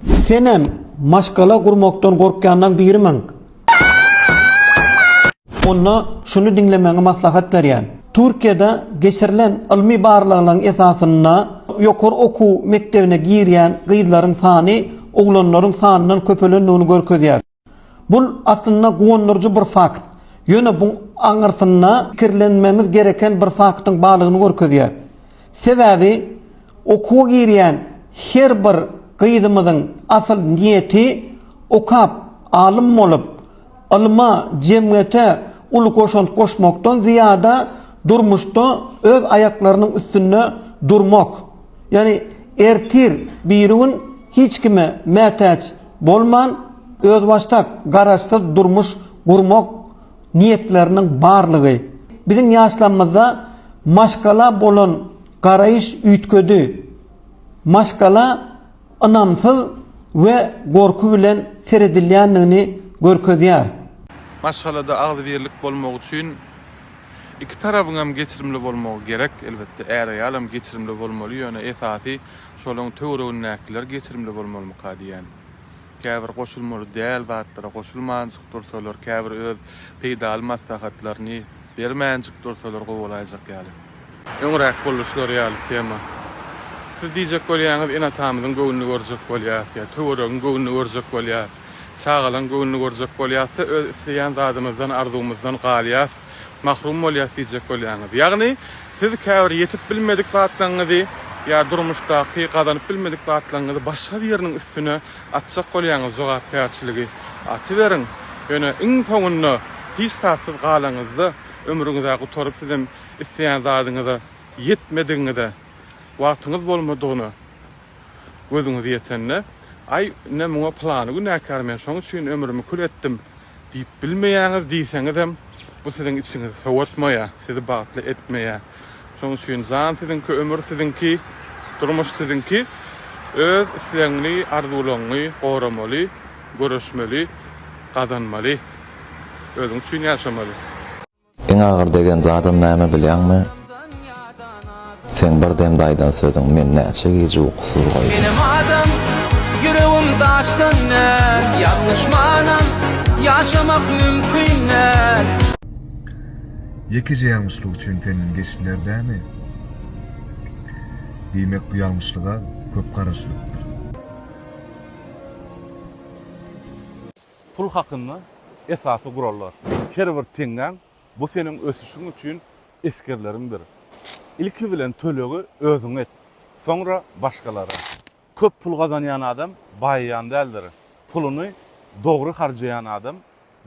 Senem maşgala gurmakdan gorkýanlaň birimiň? Onda şuny diňlemegiňi maslahat berýän. Türkiýede geçirilen ylmy barlaglaň esasynda ýokary okuw mekdebine girýän gyzlaryň sany oglanlaryň sanyndan köpelendigini görkezýär. Bu, aslynda, guwandyryjy bir fakt. Ýöne bu aňyrsynda pikirlenmemiz gereken bir faktyň barlygyny görkezýär. Sebäbi okuwa girýän her bir gyzymyzyň asyl niýeti okap, alym bolup, ylma, jemgyýete uly goşant goşmakdan zyýada durmuşda öz aýaklarynyň üstünde durmak. Ýagny ertir biri gün hiç kime mätäç Bolman, özbaşdak, garaşsyz durmuş gurmak niýetleriniň barlygy, biziň ýaşlarymyzda maşgala bolan garaýyş üýtgedi. Maşgala ynamsyz we gorky bilen seredilýändigini görkezýär. Maşgalada agzybirlik bolmagy üçin iki tarabyňam geçirimli bolmagy gerek. Elbetde, är-aýalam geçirimli bolmaly, ýöne esasy Şolaň töweregindäkiler geçirimli bolmalymyka diýýän. Käbir goşulmaly däl zatlara goşulmanjyk dursalar, käbir öz peýdaly maslahatlaryny bermänjik dursalar gowy bolaýjak ýaly. Öňräk boluşlary ýaly tema. Siz diýjek bolýaňyz, ene-atamyzyň göwnüni görjek bolýas ýa töweregiň göwnüni görjek bolýas, çagalaň göwnüni görjek bolýasda öz isleýän zadymyzdan, arzuwymyzdan galýas. mahrum bolýas diýjek bolýaňyz. Ýagny, siz käbir ýetip bilmedik zatlaryňyzy ýa durmuşdaky gazanyp bilmedik zatlaryňyzy başga biriniň üstüne atjak bolýaňyz, jogapkärçiligi atyberiň, ýöne iň soňunda hiç zatsyz galaňyzda, ömrüňiz-ä gutaryp sizem isleýän zadyňyza ýetmedigiňize, wagtyňyz bolmadygyna, gözüňiz ýetende, Aý, ine, muňa pylany günäkär, men şoň üçin ömrümi kül etdim diýip bilmeýäňiz diýseňizem, bu siziň içiňizi sowatmaýar, sizi bagtly etmeýär. Şoň üçin jan siziňki, ömür siziňki, durmuş siziňki. Öz islegiňi, arzuwlaryňy goramaly, göreşmeli, gazanmaly. Özüň üçin ýaşamaly. Iň agyr degen zadym näme bilýäňmi? Seň bir demde aýdan sözüň meni näçe gije ukusyz goýdy. Menem adam, ýüregim daşdan däl. Ýalňyşmanam ýaşamak mümkin däl. Ýekeje ýalňyşlyk üçin senden geçdiler dämi? Diýmek bu ýalňyşlyga köp garaşylypdyr. Pul hakynda esasy gurallar. Her bir teňňäň bu seniň ösüşiň üçin esgerleriňdir. Ilki bilen tölegi özüňe et, soňra başgalara. Köp pul gazanýan adam baýaýan däldir. Puluny dogry harjaýan adam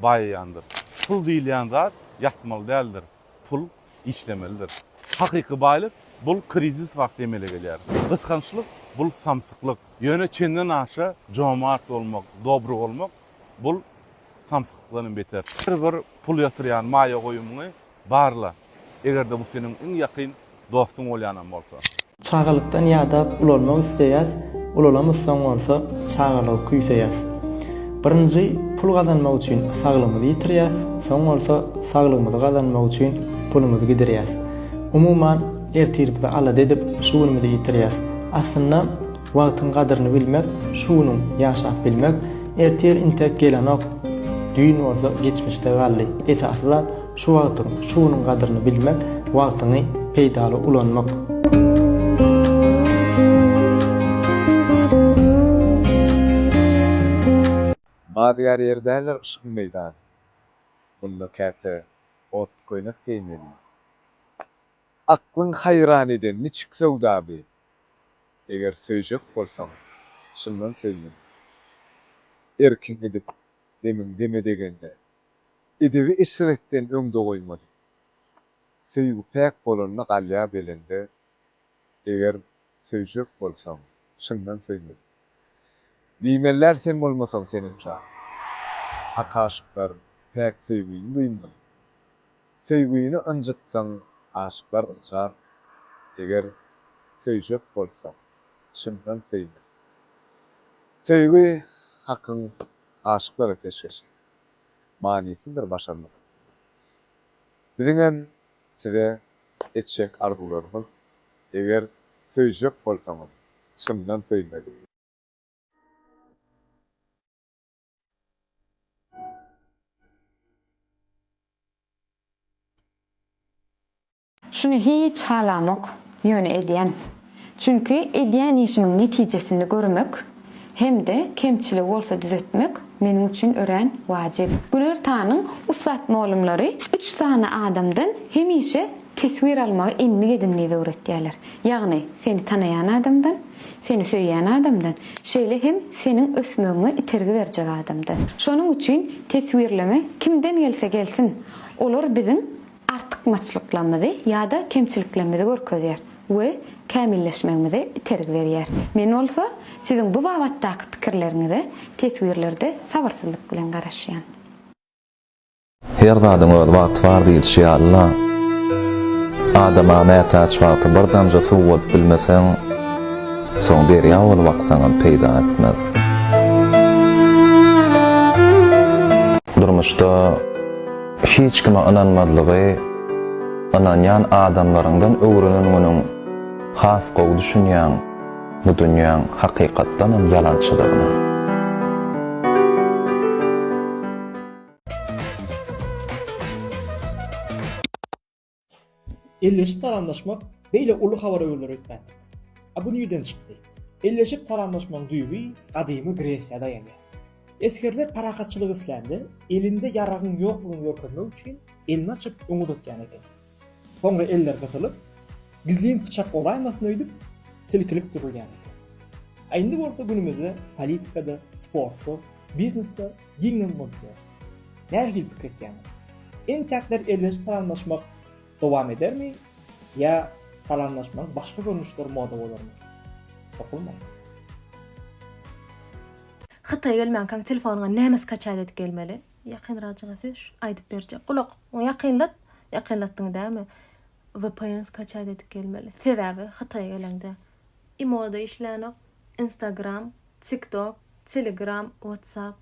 baýaýandyr. Pul diýilýän zat ýatmaly däldir. pul işlemelidir. Hakyky baýlyk, bul krizis wagty emele gelýär. Gysgançlyk, bul samsyklyk. Ýöne çenden aşa jomart bolmak, dobry bolmak, bul samsyklykdan hem beter. Her bir pul ýatyrýan maýa goýumyňy barla. Eger-de bu seniň iň ýakyn dostuň bolýanam bolsa. Çagalykdan ýadap ulalmak isleýäs, ulalamyzsoň bolsa çagalygy küýseýäs. Birinji pul gazanmak üçin saglygymyzy ýitirýäs, soň bolsa saglygymyzy gazanmak üçin pulumyzy gidirýäs. Umuman, ertirimizi alada edip, şu günümizi ýitirýäs. Aslynda, wagtyň gadyryny bilmek, şu günüň ýaşap bilmek, ertir intek gelenok, düýn bolsa geçmişde galdy. Esasy zat, Şu wagtyň, şu günüň gadyryny bilmek, wagtyňy peýdaly ulanmak. Badygar ýer däldir yşgyň meýdany. Munda käte ot köýnek geýmeli. Aklyň haýran eden niçik söwda bi. Eger söýjek bolsaň, çyndan söýmeli. Erkiň gidip, demiň deme degende. Edebi eşretden öňde goýmaly. Söýgi päk bolanda galýar belende, eger söýjek bolsaň, çyndan söýmeli. Diýmelär sen bolmasaň senem jan. Hak aşyklar päk söýgini duýmaly. Söýgini ynjytsaň aşyklar ynjar, eger söýjek bolsaň, çyndan söýmeli. Söýgi Hakyň aşyklara peşgeşi. manysyzdyr başarnyk. Biziňem size etjek arzuwlarymyz, eger söýjek bolsaňyz, çyndan söýmeli. Şuny hiç halamok, ýöne edýän. Çünki edýän işimiň netijesini görmek hem-de kemçiligi bolsa düzetmek meniň üçin örän wajyp. Güler Tanyň ussat mugallymlary üç sany adamdan hemişe teswir almagy endik edin diýip öwretýärler. Ýagny, seni tanaýan adamdan, seni söýýän adamdan, şeýle hem seniň ösmegiňe itergi berjek adamdan. Şonuň üçin teswirleme kimden gelse gelsin, olar biziň artykmaçlyklarymyzy ýa-da kemçiliklerimizi görkezýär we kämilleşmegimize itergi berýär. Men bolsa siziň bu babatdaky pikirleriňize teswirlerde sabyrsyzlyk bilen garaşýan. Her zadyň öz wagty bar diýilişi ýaly-la, adama mätäç wagty bir damja suw bolup bilmeseň, soň derýa bolup aksaňam peýda etmez. Durmuşda. Hiç kime ynanmazlygy ynanýan adamlaryňdan öwrenen günüň has gowy düşünýäň bu dünýäň hakykatdanam ýalançydygyna. Elleşip salamlaşmak beýle uly habary öwürler öýtmändi. A bu nirden çykdy? Elleşip salamlaşmagyň düýbi gadymy Gresiýa daýanýar. Esgerler parahatçylyk islände, elinde ýaragyň ýoklugyny görkezmek üçin elini açyp öňe uzatýan eken. Soňra eller gysylyp, gizlin pyçak golaýmasyn öýdüp, silkilip durulýan eken. A indi bolsa günümizde politikada, sportda, biznesde giňden bolup ýör. Nähili pikir etýäňiz? Entäkler elleşip salamlaşmak dowam edermi ýa salamlaşmagyň başga görnüşleri moda bolarmy? Topulmaň! Hytaýa gelmänkäň telefonyňa näme skaçat edip gelmeli? Ýakynrakjyňa söz, aýdyp berjek. Gulak ýakynlat, ýakynlatdyň dämi? Vpn skaçat edip gelmeli. Sebäbi Hytaýa geleňde i moda işlänok, instagram, Tiktok, Telegram, WhatsApp,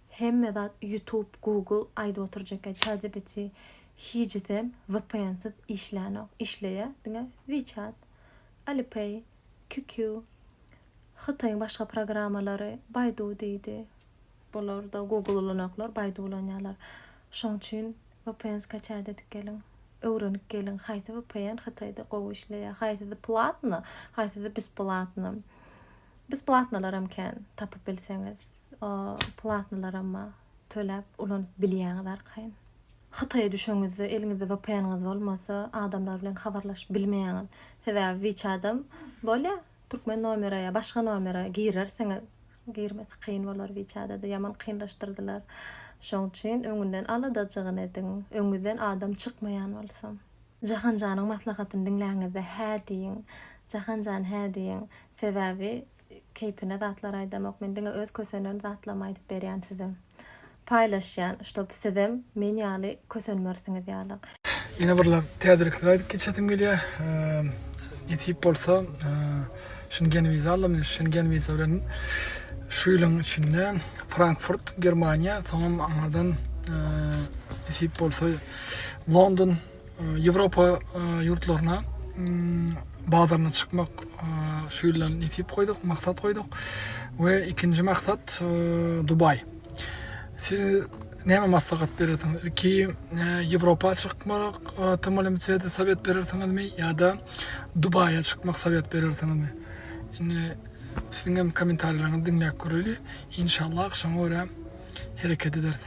hemme zat YouTube, Google aýdyp oturjak ChatGPT hijisem vpnsiz işlänok. Işleýä diňe WeChat, Alipay, QQ, Hytaýyň başga programmalary, Baidu diýdi. Bularda Google ulanýaklar, Baidu ulanýarlar. Şoň üçin vpn skaçaýda edip geliň. Öwrenip geliň haýsy vpn Hytaýda gowy işleýä. Haýsysy platno, haýsysy besplatno. Biz platnalaram kän tapyp bilseňiz platnalaramma töläp ulanyp bilýäňiz arkaýyn. Hytaýa düşeňizde eliňizde vpn-iňiz bolmasa adamlar bilen habarlaşyp bilmeýäňiz. Sebäbi wiçadam bolýa türkmen nomere ýa başga nomere girersiňiz girmesi kyn bolar wiçadada ýaman kynlaşdyrdylar. Şoň üçin öňünden aladajygyny ediň öňüňizden adam çykmaýan bolsa. Jahanjanyň maslahatyny diňläňizde hä diýiň. Jahanjan hä diýiň. Sebäbi keýpine zatlar aýdamok. Men diňe öz kösenen zatlarymy aýdyp berýän size. Paýlaşýan, ştob sizem men ýaly kösenmersiňiz ýaly. Ýene birlap täzelikler aýdyp geçesim gelýär. Nesip bolsa Şengen wiza aldy men Şengen wiza bilen şu ýylyň içinde Frankfurt Germaniýa soňam aňardan nesip bolsa London Ýewropa ýurtlaryna bazaryna çykmak şu ýyldan nesip goýduk maksat goýduk we ikinji maksat Dubaý. Siz näme maslahat berersiňiz? Ilki Ýewropa çykmak tmlmcde sowet berersiňizmi ýa-da Dubaýa çykmak sowet berersiňizmi? Indi siziň hem kommentariýalaryňyzy diňläp göreli. Inşallah şoňa görä hereket ederis.